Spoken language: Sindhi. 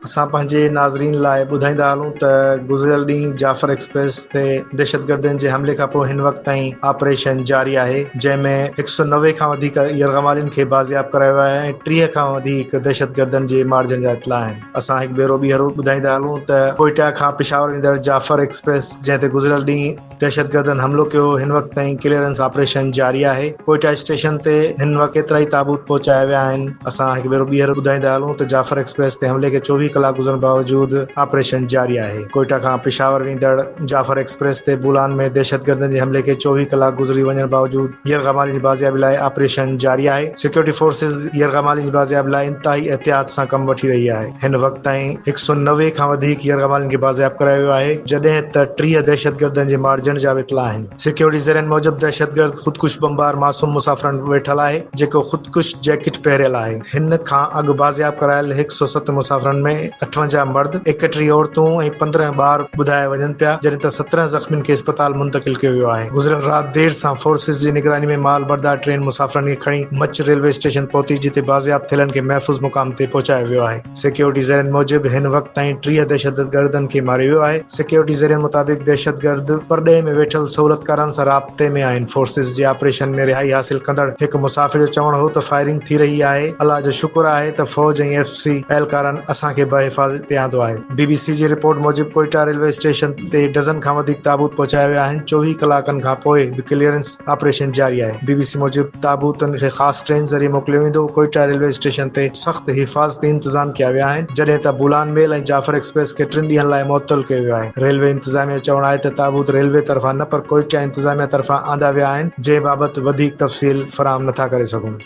اسان پنهنجي ناظرين لاء ٻڌائيندا هلون ته گذريل ڏينهن جعفر ايڪسپريس تي دهشتگردن جي حملي کانپوء هن وقت تائين آپريشن جاري آهي جنهن ۾ هڪ سؤ نوي کان وڌيڪ يرغمالين کي بازياب ڪرايو ويو آهي ۽ ٽيهه کان وڌيڪ دهشتگردن جي مارجڻ جا اطلاع آهن. اسان هڪ ڀيرو ٻيهر ٻڌائيندا هلون ته ڪوئيٽا کان پشاور ويندڙ جعفر ايڪسپريس جنهن تي گذريل ڏينهن دهشتگردن حملو ڪيو هن وقت تائين ڪليئرنس آپريشن جاري آهي ڪوئيٽا اسٽيشن تي هن وقت ڪيترائي تابوت پهچايا ويا آهن اسان هڪ ڀيرو ٻيهر ٻڌائيندا هلون ته جعفر ايڪسپريس تي حملي کي چوويهه ڪلاڪ گذرڻ باوجود آپريشن جاري آهي ڪوئيٽا کان پشاور ويندڙ جعفر ايڪسپريس تي بولان ۾ دهشتگردن جي حملي کي چوويهه ڪلاڪ گذري وڃڻ باوجود يرغمالين جي بازيابي لاء آپريشن جاري آهي سيڪيورٽي فورسز يرغمالين جي بازيابي لاء انتهائي احتياط سان ڪم وٺي رهي آهي هن وقت تائين هڪ سؤ نوي کان وڌيڪ يرغمالين کي بازياب ڪرايو ويو آهي جڏهن ته ٽيهه دهشتگردن جي مارجڻ جا به اطلاع آهن. سيڪيورٽي ذريعن موجب دهشتگرد خودڪش بمبار معصوم مسافرن وٽ ويٺل آهي جيڪو خودڪش جيڪٽ پهريل آهي هن کان اڳ بازياب ڪرايل هڪ سؤ ست مسافرن ۾ اٺونجاهه مرد ايڪٽيهه عورتون ۽ پندرهن ٻار ٻڌايا وڃن پيا جڏهن ته سترهن زخمين کي اسپتال منتقل ڪيو ويو آهي گذريل رات دير سان فورسز جي نگراني ۾ مال بردار ٽرين مسافرن کي کڻي مچ ريلوي اسٽيشن پهتي جتي بازياب ٿيلن کي محفوظ مقام تي پهچايو ويو آهي. سيڪيورٽي ذريعن موجب هن وقت تائين ٽيهه دهشتگردن کي ماريو ويو آهي، سيڪيورٽي ذريعن مطابق دهشتگرد پرڏيهه ۾ ويٺل سهولتڪارن سان رابطي ۾ آهن، فورسز جي آپريشن ۾ رهائي حاصل ڪندڙ هڪ مسافر جو چوڻ هو ته فائرنگ ٿي رهي آهي، الله جو شڪر آهي ته فوج ۽ ايف سي اهلڪارن اسان کي بحفاظت تي آندو آهي، بي بي سي جي رپورٽ موجب ڪوئيٽا ريلوي اسٽيشن. تي ڊزن کان وڌيڪ تابوت پهچايا ويا آهن، چوويهه ڪلاڪن کان پوء به ڪليئرنس آپريشن جاري آهي، بي بي سي موجب تابوتن کي خاص ٽرين ذريعي موڪليو ويندو، ڪوئيٽا ريلوي اسٽيشن تي سخت حفاظتي انتظام ڪيا ويا آهن، جڏهن ته بولان ميل ۽ جعفر ايڪسپريس کي ٽن ڏينهن لاء معطل ڪيو ويو آهي، ريلوي انتظاميا جو چوڻ آهي ته تابوت ريلوي طرفان نه پر ڪوئيٽا انتظاميا طرفان آندا ويا آهن، جنهن بابت وڌيڪ تفصيل فراهم نٿا ڪري سگهون.